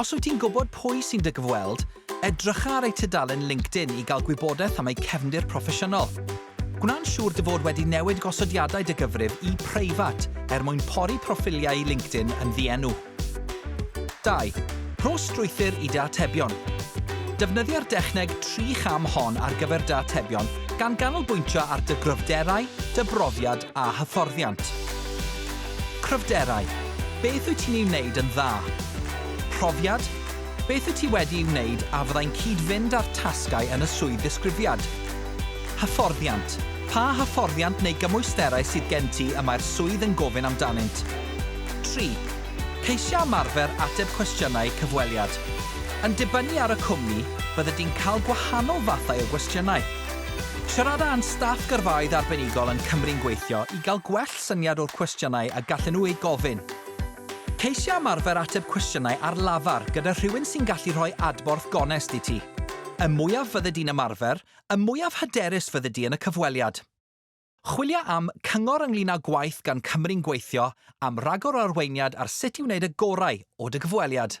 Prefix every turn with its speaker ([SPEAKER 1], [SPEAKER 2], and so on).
[SPEAKER 1] Os wyt ti'n gwybod pwy sy'n dy gyfweld, edrycha ar eu tudalen LinkedIn i gael gwybodaeth am eu cefndir proffesiynol. Gwna'n siŵr dy fod wedi newid gosodiadau dy gyfrif i 'preifat' er mwyn pori proffiliau LinkedIn yn ddienw. 2. Rho strwythur i dy atebion. Defnyddio'r dechneg tri cham hon ar gyfer dy atebion, gan ganolbwyntio ar dy gryfderau, dy brofiad a hyfforddiant. Cryfderau, Beth wyt ti'n ei wneud yn dda? Profiad, Beth wyt ti wedi ei wneud a fyddai'n cyd-fynd â'r tasgau yn y swydd ddisgrifiad? Hyfforddiant, Pa hyfforddiant neu gymwysterau sydd gen ti y mae'r swydd yn gofyn amdanynt? Tri. Ceisiau ymarfer ateb cwestiynau cyfweliad. Yn dibynnu ar y cwmni, byddet ti'n cael gwahanol fathau o gwestiynau. Siarada â'n staff gyrfaoedd arbenigol yn Cymru'n Gweithio i gael gwell gwell syniad o'r cwestiynau a gallen nhw eu gofyn. Ceisia ymarfer ateb cwestiynau ar lafar gyda rhywun sy'n gallu rhoi adborth gonest i ti. Y mwyaf fyddi di'n ymarfer, y mwyaf hyderus fyddi di yn y cyfweliad. Chwilia am cyngor ynglŷn â gwaith gan Cymry'n Gweithio, am ragor o arweiniad ar sut i wneud y gorau o dy gyfweliad.